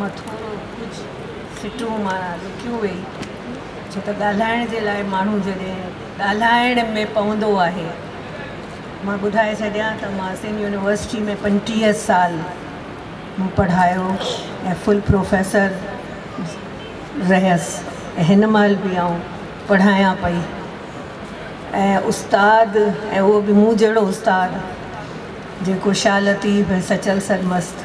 مان ٿورو ڪجهه سٽون مان لڪيون ويئي ڇو ته ڳالهائڻ جي لاء ماڻهو جڏهن ڳالهائڻ ۾ پوندو آهي مان ٻڌائي ڇڏيان ته مان سنڌ يونيورسٽي ۾ پنجٽيهه سال مون پڙهايو ۽ فل پروفيسر رهيس ۽ هن مهل به آئون پڙهايان پئي ۽ استاد ۽ اهو به مون جهڙو استاد جيڪو شاهه لطيف ۽ سچل سرمست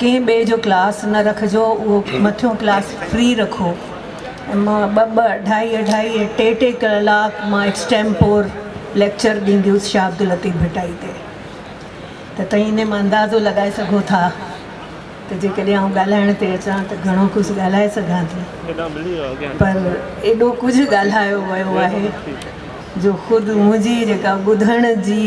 ڪنهن ٻئي جو ڪلاس نه رکجو اهو مٿيون ڪلاس فري رکو ۽ مان ٻه ٻه اڍائي اڍائي ۽ ٽي ٽي ڪلاڪ مان ايڪسٽيمپور ليڪچر ڏيندي هيس شاهه عبداللطيف ڀٽائي تي ته تئين انهي مان اندازو لڳائي سگهو ٿا ته جيڪڏهن آئون ڳالهائڻ تي اچان ته گهڻو ڪجهه ڳالهائي سگهان ٿي پر ايڏو ڪجهه ڳالهايو ويو آهي جو خود منهنجي جيڪا ٻڌڻ جي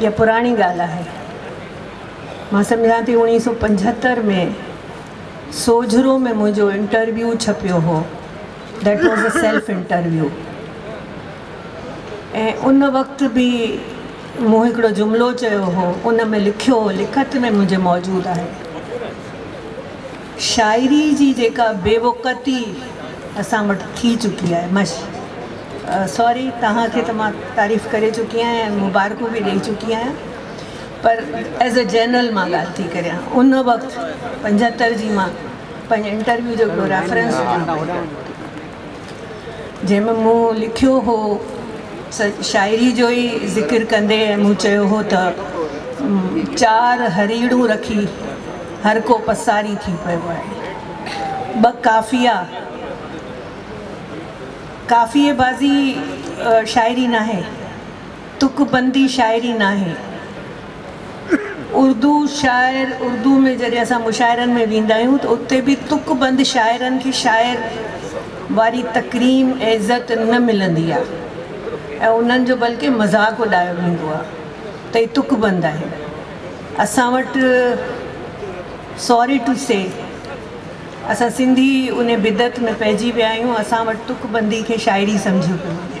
اها پراڻي ڳالهه آهي. مان سمجهان ٿي اوڻيهه سؤ پنجهتر ۾ سوجهرو ۾ منهنجو انٽرويو ڇپيو هو. That was a self interview. ۽ ان وقت به مون هڪڙو جملو چيو هو، ان ۾ لکيو هو، لکت ۾ منهنجي موجود آهي. شاعري جي جيڪا بي وقعتي اسان وٽ ٿي چڪي آهي مش سوري توهان کي ته مان تعريف ڪري چڪي آهيان ۽ مبارڪون به ڏئي چڪي آهيان پر ايز اي جنرل مان ڳالهه ٿي ڪريان ان وقت پنجهتر جي مان پنهنجي انٽرويو جو ريفرنس ڏيان پئي جنهن ۾ مون لکيو هو س شاعري جو ئي ذڪر ڪندي ۽ مون چيو هو ته چار هريڙون رکي هر ڪو پساري ٿي پيو آهي ٻه ڪافيا ڪافيي بازي شاعري ناهي تڪ بندي شاعري ناهي اردو شاعر، اردو ۾ جڏهن اسان مشاعرن ۾ ويندا آهيون ته اتي به تڪ بند شاعرن کي شاعر واري تڪريم ۽ عزت نه ملندي آهي ۽ انهن جو بلڪه مذاق اڏايو ويندو آهي ته هي تڪ بند آهن. اسان وٽ ساري ٽو سي اسان سنڌي انهي بدعت ۾ پئجي ويا آهيون، اسان وٽ تڪ بندي کي شاعري سمجهيو پيو وڃي.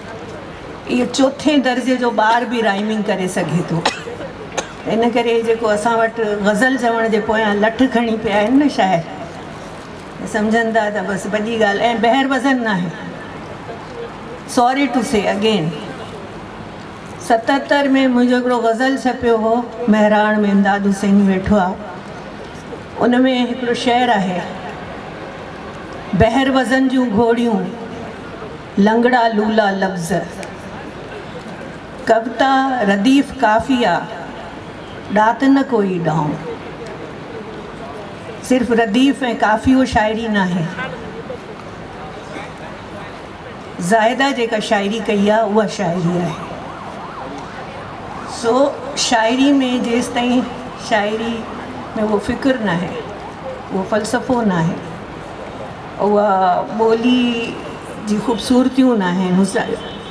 اهو چوٿين درجي جو ٻار به رائمنگ ڪري سگهي ٿو ان ڪري جيڪو اسان وٽ غزل چوڻ جي پويان لٺ کڻي پيا آهن نه شاعر سمجهن ٿا ته بس وڏي ڳالهه ۽ بهر وزن ناهي سوري ٽو سي اگين ستر ۾ منهنجو هڪڙو غزل ڇپيو هو مهراڻ ۾ امداد حسيني ويٺو آهي ان ۾ هڪڙو شعر آهي بهر وزن جون گهوڙيون لنگڙا لولا لفظ، ڪوتا رديف قافيه، ڏات نه ڪوئي ڏانء. صرف رديف ۽ قافيو شاعري ناهي. زاهده جيڪا شاعري ڪئي آهي اها شاعري آهي. سو شاعري ۾ جيستائين شاعري ۾ اهو فڪر ناهي، اهو فلسفو ناهي. اها ٻولي جي خوبصورتيون ناهن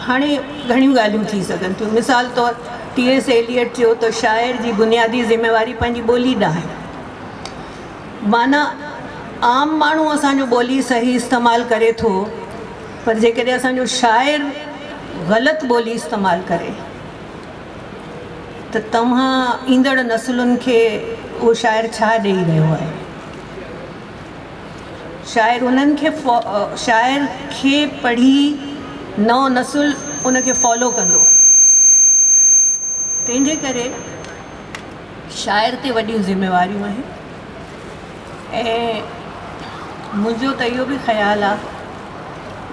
هاڻي گهڻيون ڳالهيون ٿي سگهن ٿيون مثال طور ٽي ايس ايليئٽ چيو ته شاعر جي بنيادي ذميواري پنهنجي ٻولي ڏانهن آهي معنيٰ عام ماڻهو اسان جو ٻولي صحيح استعمال ڪري ٿو پر جيڪڏهن اسان جو شاعر غلط ٻولي استعمال ڪري ته توهان ايندڙ نسلن کي اهو شاعر ڇا ڏئي رهيو آهي شاعر انهن کي شاعر کي پڙهي نئون نسل ان کي فالو ڪندو تنهنجي ڪري شاعر تي وڏيون ذميواريون آهن ۽ منهنجو ته اهو بي خيال آ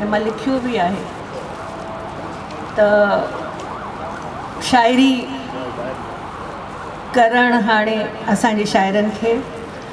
۽ مان لکيو بي آهي ته شاعري ڪرڻ هاڻي اسان جي شاعرن کي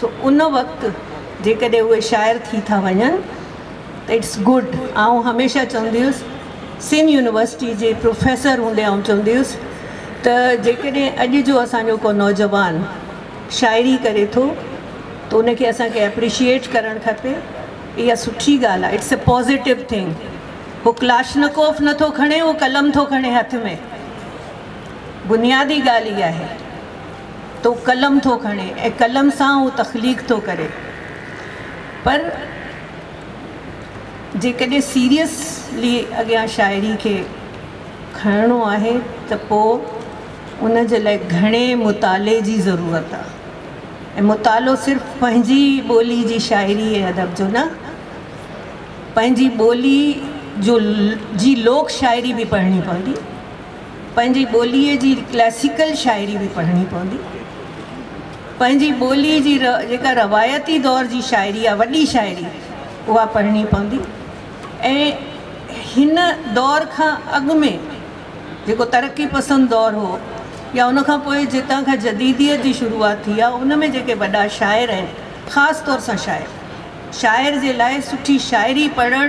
سو ان وقت جيڪڏهن اهي شاعر ٿي ٿا وڃن ته اٽس گڊ آئون هميشه چوندي هيس سنڌ يونيورسٽي جي پروفيسر هوندي آئون چوندي هيس ته جيڪڏهن اڄ جو اسانجو ڪو نوجوان شاعري ڪري ٿو ته ان کي اسان کي اپريشيئيٽ ڪرڻ کپي اها سٺي ڳالهه آهي اٽس اي پوزيٽو ٿنگ هو ڪلاشنڪوف نه ٿو کڻي هو قلم ٿو کڻي هٿ ۾ بنيادي ڳالهه اها آهي تو قلم ٿو کڻي ۽ قلم سان اهو تخليق ٿو ڪري پر جيڪڏهن سيريسلي اڳيان شاعري کي کڻڻو آهي ته پوء ان جي لاء گهڻي مطالعي جي ضرورت آهي ۽ مطالعو صرف پنهنجي ٻولي جي شاعري ۽ ادب جو نه پنهنجي ٻولي جو جي لوڪ شاعري به پڙهڻي پوندي پنهنجي ٻوليء جي ڪلاسيڪل شاعري به پڙهڻي پوندي. پنهنجي ٻوليء جي جيڪا روايتي دور جي شاعري آهي، وڏي شاعري، اها پڙهڻي پوندي ۽ هن دور کان اڳ ۾ جيڪو ترقي پسند دور هو يا ان کان پوء جتان کان جديديت جي شروعات ٿي آهي، ان ۾ جيڪي وڏا شاعر آهن، خاص طور سان شاعر، شاعر جي لاء سٺي شاعري پڙهڻ،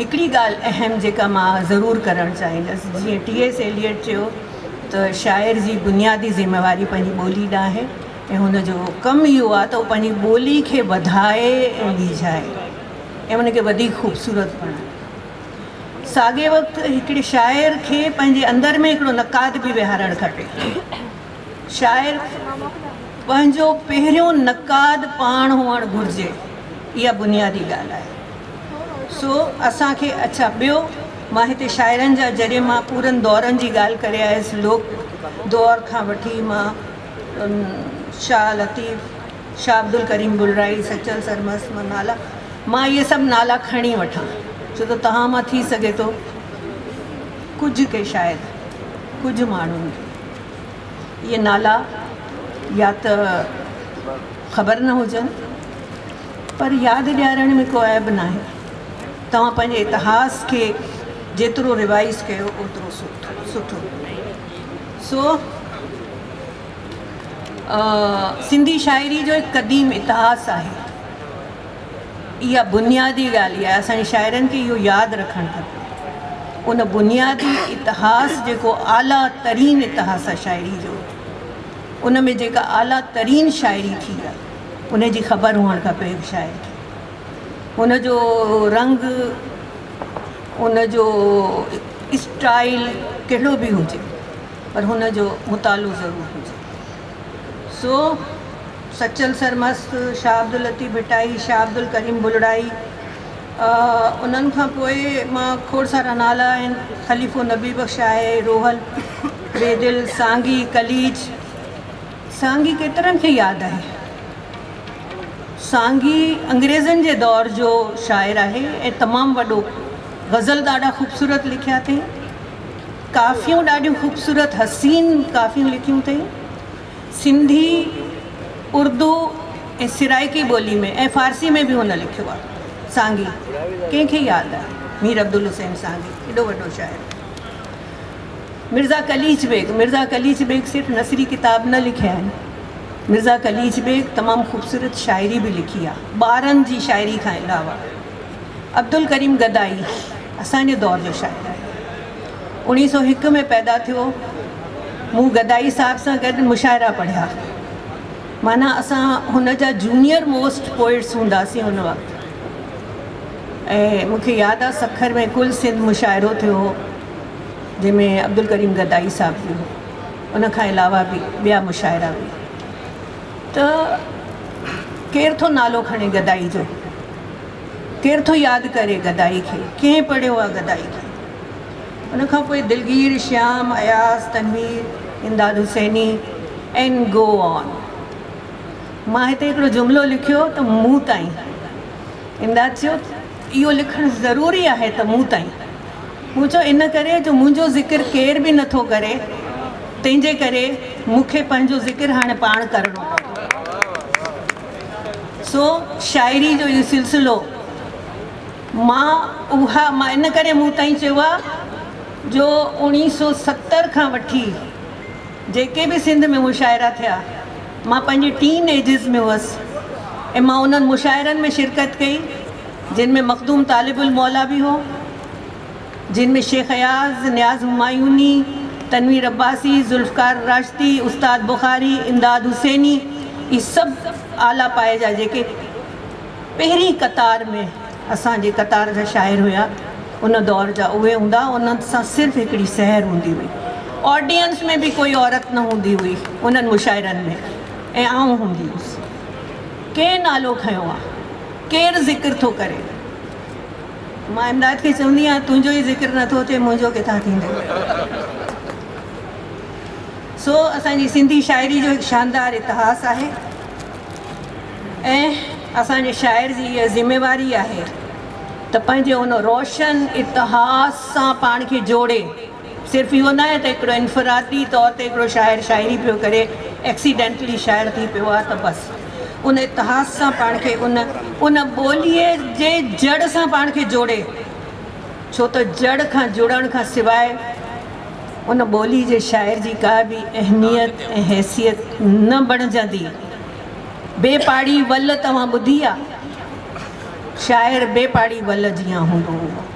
هڪڙي ڳالهه اهم جيڪا مان ضرور ڪرڻ چاهيندس جيئن ٽي ايس ايليئٽ چيو ته شاعر جي بنيادي ذميواري پنهنجي ٻولي ڏانهن آهي ۽ هن جو ڪم اهو آهي ته هو پنهنجي ٻولي کي وڌائي ۽ ٻيجائي ۽ ان کي وڌيڪ خوبصورت بڻائي ساڳي وقت هڪڙي شاعر کي پنهنجي اندر ۾ هڪڙو نقاد به ويهارڻ کپي شاعر پنهنجو پهريون نقاد پاڻ هئڻ گهرجي اها بنيادي ڳالهه آهي سو اسان کي اڇا ٻيو مان هتي شاعرن جا جڏهن مان پورن دورن جي ڳالهه ڪري آيس لوڪ دور کان وٺي مان شاهه لطيف شاهه عبدالڪريم بلرائي سچل سرمست مان نالا مان اهي سڀ نالا کڻي وٺان ڇو ته توهان مان ٿي سگهي ٿو ڪجهه ڪي شايد ڪجهه ماڻهن کي اهي نالا يا ته خبر نه هجن پر ياد ڏيارڻ ۾ ڪو عيب ناهي. توهان پنهنجي اتهاس کي جيترو ريوائيز ڪيو اوترو سٺو. سو سنڌي شاعري جو هڪ قديم اتهاس آهي. اها بنيادي ڳالهه آهي اسان جي شاعرن کي اهو ياد رکڻ کپي ان بنيادي اتهاس جيڪو اعليٰ ترين اتهاس آهي شاعري جو ان ۾ جيڪا اعليٰ ترين شاعري ٿي آهي ان جي خبر هئڻ کپي هڪ شاعر کي ان جو رنگ ان جو اسٽائل ڪهڙو به هجي پر هن جو مطالعو ضرور هجي سو سچل سرمست، شاهه عبداللطيف ڀٽائي، شاهه عبدالڪريم بلڙائي انهن کان پوء مان کوڙ سارا نالا آهن، خليفو نبي بخش آهي، روحل، بيدل، سانگي، قليچ، سانگي ڪيترن کي ياد آهي. سانگي انگريزن جي دور جو شاعر آهي ۽ تمام وڏو غزل ڏاڍا خوبصورت لکيا اٿئين. ڪافيون ڏاڍيون خوبصورت حسين ڪافيون لکيون اٿئي سنڌي اردو ۽ سرائڪي ٻولي ۾ ۽ فارسي ۾ به هن لکيو آهي سانگي ڪنهن کي ياد آهي مير عبدالحسين سانگي ايڏو وڏو شاعر مرزا قليچ بيگ مرزا قليچ بيگ صرف نثري ڪتاب نه لکيا آهن مرزا قليچ بيگ تمام خوبصورت شاعري به لکي آهي ٻارن جي شاعري کان علاوه عبدالڪريم گدائي اسان جي دور جو شاعر آهي. اوڻيهه سؤ هڪ ۾ پيدا ٿيو. مون گدائي صاحب سان گڏ مشاعرا پڙهيا. معنيٰ اسان هن جا جونيئر موسٽ پوئٽس هونداسين ان وقت. ۽ مون کي ياد آهي سکر ۾ ڪل سنڌ مشاعرو ٿيو هو جنهن ۾ عبدالڪريم گدائي صاحب به هو. ان کان علاوه به ٻيا مشاعرا به. ته ڪير ٿو نالو کڻي گدائي جو. ڪير ٿو ياد ڪري گدائي کي، ڪنهن پڙهيو آ گدائي کي. ان کان پوء Dilgir, Shyam, Ayaz, Tanveer, Imdad Hussaini and go on. مان هتي هڪڙو جملو لکيو ته مون تائين. امداد چيو اهو لکڻ ضروري آهي ته مون تائين. مون چيو ان ڪري جو منهنجو ذڪر ڪير به نه ٿو ڪري تنهنجي ڪري مون کي پنهنجو ذڪر هاڻي پاڻ ڪرڻو پوندو. سو شاعري جو اهو سلسلو مان اها مان ان ڪري مون تائين چيو آهي جو اوڻيهه سو ستر کان وٺي جيڪي به سنڌ ۾ مشاعرا ٿيا مان پنهنجي ٽين ايجز ۾ هئس ۽ مان انهن مشاعرن ۾ شرڪت ڪئي جن ۾ مخدوم طالب الموليٰ به هو جن ۾ شيخ اياز، نياز همايوني، تنوير عباسي، ذوالفقار راشدي، استاد بخاري، امداد حسيني اهي سڀ اعليٰ پائي جا جيڪي پهرين قطار ۾ اسان جي قطار جا شاعر هيا ان دور جا اهي هوندا انهن سان صرف هڪڙي سحر هوندي هئي آڊينس ۾ به ڪوئي عورت نه هوندي هئي انهن مشاعرن ۾ ۽ آئون هوندي هيس ڪنهن نالو کنيو آ ڪير ذڪر ٿو ڪري. مان امداد کي چوندي آهيان تنهنجو ئي ذڪر نه ٿو ٿئي منهنجو ڪٿان ٿيندو. سو اسان جي سنڌي شاعري جو هڪ شاندار اتهاس آهي ۽ اسان جي شاعر جي اها ذميواري آهي ته پنهنجي ان روشن اتهاس سان پاڻ کي جوڙي صرف اهو نه آهي ته هڪڙو انفرادي طور تي هڪڙو شاعر شاعري پيو ڪري، ايڪسيڊينٽلي شاعر ٿي پيو آهي ته بس ان اتهاس سان پاڻ کي ان ان ٻوليء جي جڙ سان پاڻ کي جوڙي، ڇو ته جڙ کان جڙڻ کان سواء ان ٻوليء جي شاعر جي ڪا به اهميت ۽ حيثيت نه بڻجندي. بي پاڙي ول توهان ٻڌي آ؟ شاعر بي پاڙي ول جيان هوندو هو.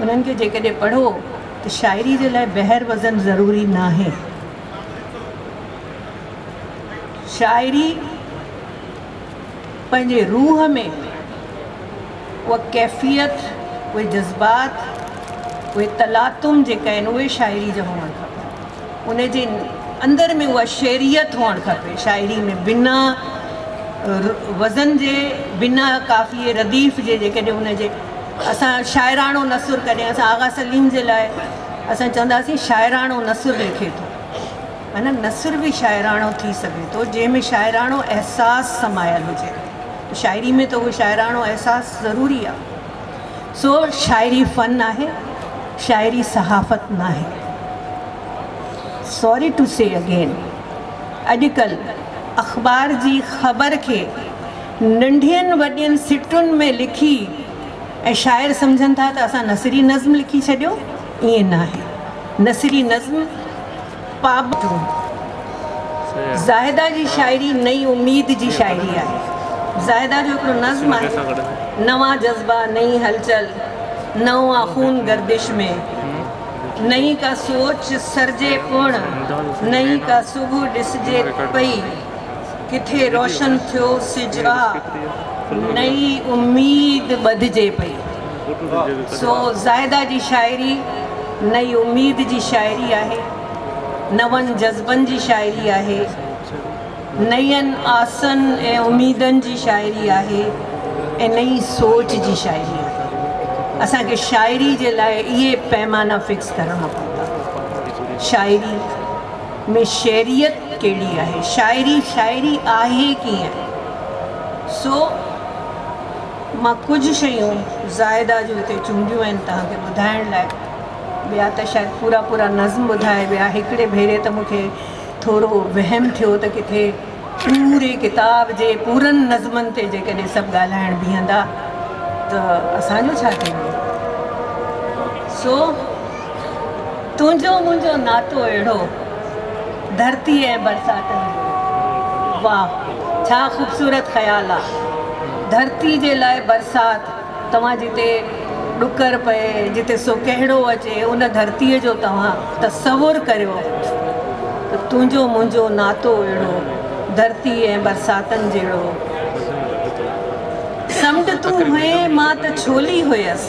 انهن کي جيڪڏهن پڙهو ته شاعري جي لاء بحر وزن ضروري ناهي. شاعري پنهنجي روح ۾ اها ڪيفيت، اهي جذبات، اهي تلاطم جيڪا آهن اهي شاعري جا هئڻ کپن. ان جي اندر ۾ اها شعريت هئڻ کپي. شاعري ۾ بنا وزن جي، بنا قافيي رديف جي جيڪڏهن ان جي. اسان شاعراڻو نثر ڪڏهن اسان آغا سليم جي لاء اسان چونداسين شاعراڻو نثر لکي ٿو معنيٰ نثر به شاعراڻو ٿي سگهي ٿو جنهن ۾ شاعراڻو احساس سمايل هجي شاعري ۾ ته اهو شاعراڻو احساس ضروري آهي سو شاعري فن آهي شاعري صحافت نه آهي سوري ٽو سي اگين اڄڪلهه اخبار جي خبر کي ننڍين وڏين سٽن ۾ لکي ۽ شاعر سمجهن ٿا ته اسان نثري نظم لکي ڇڏيو، ائين ناهي. نثري نظم پابند هوندو آهي. زاهده جي شاعري نئين اميد جي شاعري آهي. زاهده جو هڪڙو نظم آهي، نوان جذبا، نئين هلچل، نئون آ خون گردش ۾، نئين ڪا سوچ سرجي پڻ، نئين ڪا صبح ڏسجي پئي. ڪٿي روشن ٿيو سج آ، نئين اميد ٻڌجي پئي. سو زاهده جي شاعري نئين اميد جي شاعري آهي، نون جذبن جي شاعري آهي، نين آسن ۽ اميدن جي شاعري آهي ۽ نئين سوچ جي شاعري آهي. اسان کي شاعري جي لاء اهي پيمانا فڪس ڪرڻا پوندا. شاعري. ۾ شعريت ڪهڙي آهي؟ شاعري شاعري آهي ڪيئن؟ سو مان ڪجهه شيون زاهده جون هتي چونڊيون آهن توهان کي ٻڌائڻ لاء. ٻيا ته شايد پورا پورا نظم ٻڌائي ويا. هڪڙي ڀيري ته مونکي ٿورو وهم ٿيو ته ڪٿي پوري ڪتاب جي پورن نظمن تي جيڪڏهن سڀ ڳالهائڻ بيهندا ته اسان جو ڇا ٿيندو؟ سو. تنهنجو منهنجو ناتو اهڙو ڌرتي ۽ برساتن جو. واهه ڇا خوبصورت خيال آ ڌرتي جي لاء برسات توهان جتي ڏڪر پئي جتي سوڪهڙو اچي ان ڌرتي جو توهان تصور ڪريو ته تنهنجو منهنجو ناتو اهڙو ڌرتي ۽ برساتن جهڙو سمنڊ تون هئين مان ته ڇولي هيس.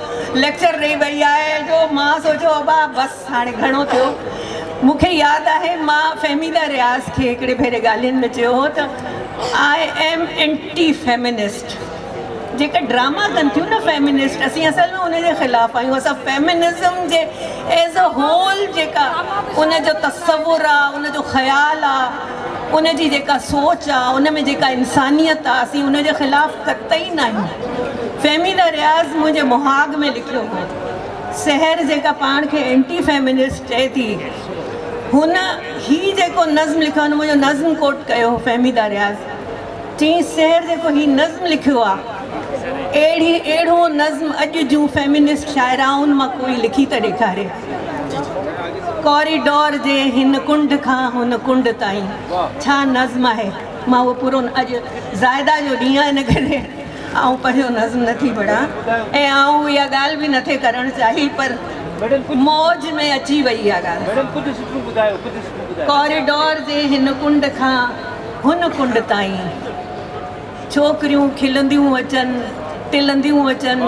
ليڪچر ڏئي وئي آهي جو مان سوچيو ابا بس هاڻي گهڻو ٿيو مون کي ياد آهي مان فهميده رياض کي هڪڙي ڀيري ڳالهين ۾ چيو هو ته آء ايم اينٽي فيمنسٽ جيڪا ڊراما ڪن ٿيون نه فيمنسٽ اسين اصل ۾ ان جي خلاف آهيون اسان فيمنزم جي ايز اي هول جيڪا ان جو تصور آهي ان جو خيال آهي ان جي جيڪا سوچ آ ان ۾ جيڪا انسانيت آ اسين ان جي خلاف قطعي ناهيون. فهمي نه رياض منهنجي مهاڳ ۾ لکيو هو. سحر جيڪا پاڻ کي اينٽي فيمنسٽ چئي ٿي هن هي جيڪو نظم لکيو هن منهنجو نظم ڪوٽ ڪيو هو فهميده رياض چيس سحر جيڪو هي نظم لکيو آ اهڙي اهڙو نظم اڄ جون فيمنسٽ شاعرائن مان ڪوئي لکي ته ڏيکاري. ڪوريڊور جي هن ڪنڊ کان هن ڪنڊ تائين ڇا نظم آهي؟ مان اهو پورو اڄ زاهده جو ڏينهن آهي ان ڪري آئون پنهنجو نظم نه ٿي پڙهان ۽ آئون اها ڳالهه به نه ٿي ڪرڻ چاهي پر موج ۾ اچي وئي اها ڳالهه ڪوريڊور جي هن ڪنڊ کان هن ڪنڊ تائين ڇوڪريون کلنديون اچن ٽلنديون اچن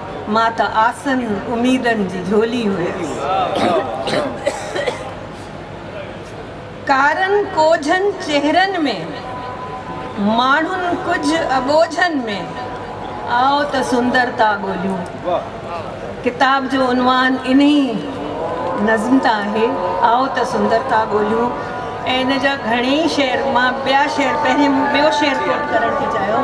مان ته آسن اميدن جي جهولي هيس. ڪارن ڪوجهن چهرن ۾، ماڻهن ڪجهه اٻوجهن ۾، آء ته سندرتا ڳوليون. ڪتاب جو عنوان انهي نظم تان آهي، آء ته سندرتا ڳوليون. ان جا گهڻي ئي شعر مان ٻيا شعر پهرين مون ٻيو شعر ڪوٽ ڪرڻ ٿي چاهيو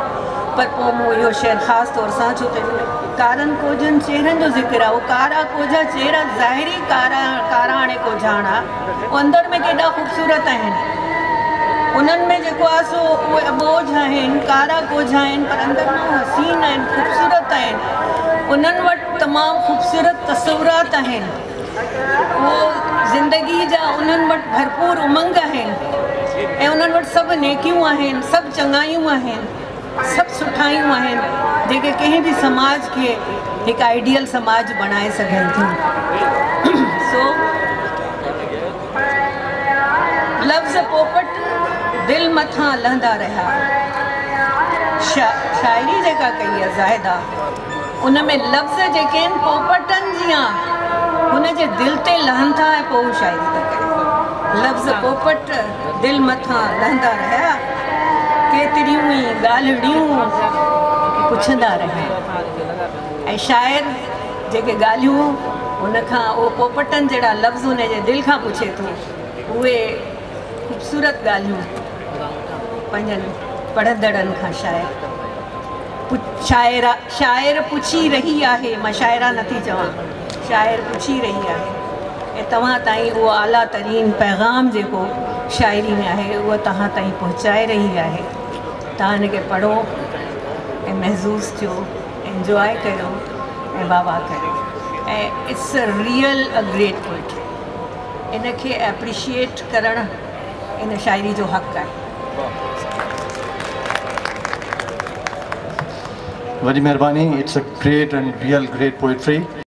پر پوء مون اهو شعر خاص طور سان ڇو ته ڪارن ڪوجهن چهرن جو ذڪر آهي اهو ڪارا ڪوجها چهرا ظاهري ڪارا ڪارا هاڻي ڪوجهاڻا اهو اندر ۾ ڪيڏا خوبصورت آهن انهن ۾ جيڪو آهي سو اهي اٻوجهه آهن ڪارا ڪوجها آهن پر اندر ۾ اهي حسين آهن خوبصورت آهن انهن وٽ تمام خوبصورت تصورات آهن هو زندگيء جا انهن وٽ ڀرپور امنگ آهن ۽ انهن وٽ سڀ نيڪيون آهن، سڀ چڱايون آهن، سڀ سٺايون آهن، جيڪي ڪنهن به سماج کي هڪ آئيڊيل سماج بڻائي سگهن ٿيون. سو لفظ پوپٽ دل مٿان لهندا رهيا. شاعري جيڪا ڪئي آهي زاهده. ان ۾ لفظ جيڪي آهن پوپٽن جيان هن جي دل تي لهن ٿا ۽ پوء هو شاعري ٿو ڪري. لفظ پوپٽ دل مٿان لهندا رهيا، ڪيتريون ئي ڳالهڙيون پڇندا رهيا ۽ شاعر جيڪي ڳالهيون هن کان اهي پوپٽن جهڙا لفظ هن جي دل کان پڇي ٿو اهي خوبصورت ڳالهيون پنهنجن پڙهندڙن کان شاعر شاعر پڇي رهي آهي مان شاعره نٿي چوان شاعر پڇي رهي آهي ۽ توهان تائين اهو اعليٰ ترين پيغام جيڪو شاعري ۾ آهي اهو توهان تائين پهچائي رهي آهي توهان ان کي پڙهو ۽ محظوظ ٿيو انجواء ڪريو ۽ واهه واهه ڪريو ۽ it's real a great poetry ان کي اپريشيئيٽ ڪرڻ ان شاعري جو حق آهي. وڏي مھرباني it's a great and real great poetry.